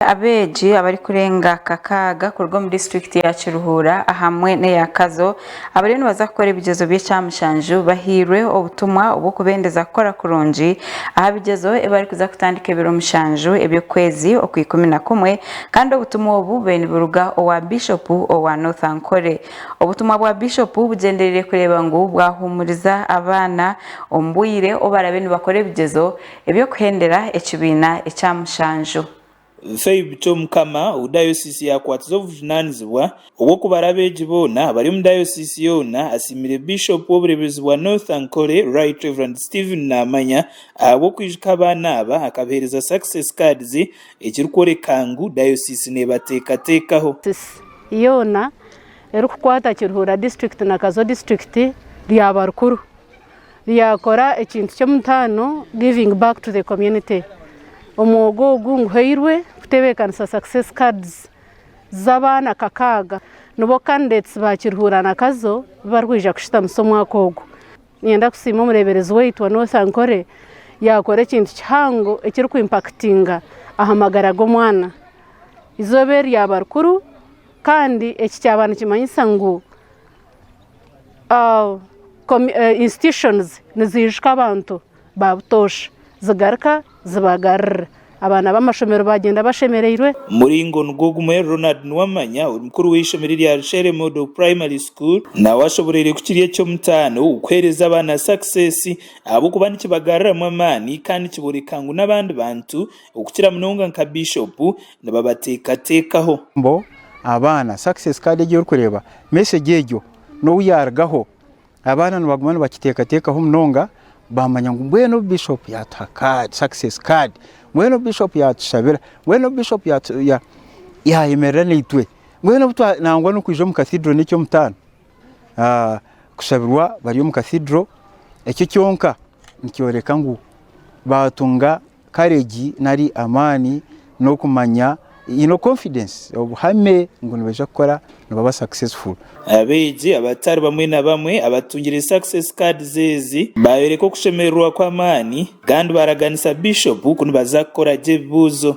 abeegi abarikurenga kakaaga kuruga omu disiturikiti ya Kiruhura ahamwe n'eya Kazo abariyo nibaza kukora ebigyezo by'ekyamushanju bahairwe obutumwa obw'okubendeza kukora kurungi aha bigyezo ebi barikuza kutandika ebiro mushanju eby'okwezi okwa ikumi na kumwe kandi obutumwa obu bube niburuga owa Bishopu owa North Ankole. Obutumwa bwa Bishopu bugyendereire kureeba ngu bwahuumuriza abaana omu bwire obu barabe nibakora ebigyezo Eby'okuhendera ekibiina ekya mushanju. Feb, Ky'Omukama ou Dayosiisi yaakwatize obujunaanizibwa obw'okubara abeegi boona abari omu Dayosiisi yoona, asiimire Bishop w'obureebezi bwa North Ankole, Right Rev. Stephen Naamanya ahabw'okwijuka abaana aba akabaheereza Success Cards ekirikworeka ngu Dayosiisi neebateekateekaho. Dayosiisi yoona erikukwata Kiruhura District na Kazo District ryaba rikuru. ryakora ekintu ky'omutaano, giving back to the community. Omwogo ogu nguhairwe kutebeekanisa success cards z'abaana kakaaga nibo candidates ba Kiruhura na Kazo bi barikwija kushitamisa omwaka ogu. Niinyenda kusiima omureeberezi waitu wa North Ankole yaakora ekintu kihango ekiri ku impactinga aha magara g'omwana. Eizooba eri ryaba rikuru kandi eki kyaba nikimanyisa ngu, institutions nizijuka abantu ba butoosha zigaruka zibagarurira abaana b'amashomero bagyenda bashemereirwe. Muringo nigwo gumwe Ronald Nuwamanya ori mukuru w'eishomero erya Rushere Model Primary School nawe ashoboreire kukiri eky'omutaano kuheereza abaana success ahabw'okuba nikibagaruramu amaani kandi nikyoreka ngu n'abandi bantu okukira munonga nka Bishopu nibabateekateekaho. Mbo abaana success card egi orikureeba message egyo n'owu yaarugaho abaana nibaguma nibakiteekateekaho munonga baamanya ngu mbwenu obu Bishopu yaatuha card success card mbwenu obu Bishopu yaatushabira mbwenu obu Bishopu yaayemerera naitwe mbwenu obu twa nangwa n'okwija omu Cathedral n'eky'omutaano kushabirwa bari omu Cathedral ekyo kyonka nikyoreka ngu baatunga courage nari amaani n'okumanya haine confidence obuhame ngu nibaija kukora nibaba successful. Abeegi abatari bamwe na bamwe abatungire Success Cards ezi baayoreka okushemererwa kw'amaani kandi baaraganisa Bishop ku nibaza kukora gye ebibuuzo.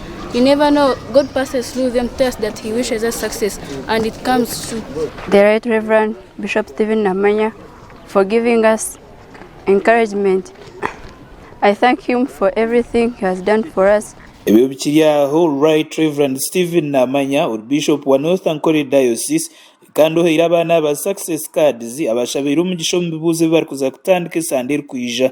Ebyo bikiri aho, Right Rev. Stephen Namanya ori Bishop wa North Ankole Diocese kandi ohaire abaana aba Success Cards abashabaire omugisha omu bibuuzo ebi barikuza kutandika esande erikwija.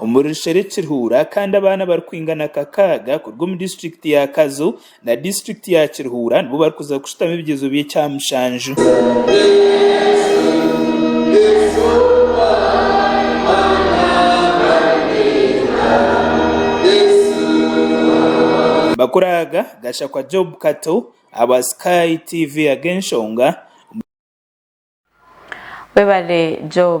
Omuri Rushere Kiruhura kandi abaana abarikwingana kakaaga kuruga omu disiturikiti ya Kazo na disiturikiti ya Kiruhura nibo barikuza kushutama ebigyezo by'ekya mushanju. Bakuraaga, Gashakwa Job Kato ahabwa Sky TV ag'enshonga. Webale Job.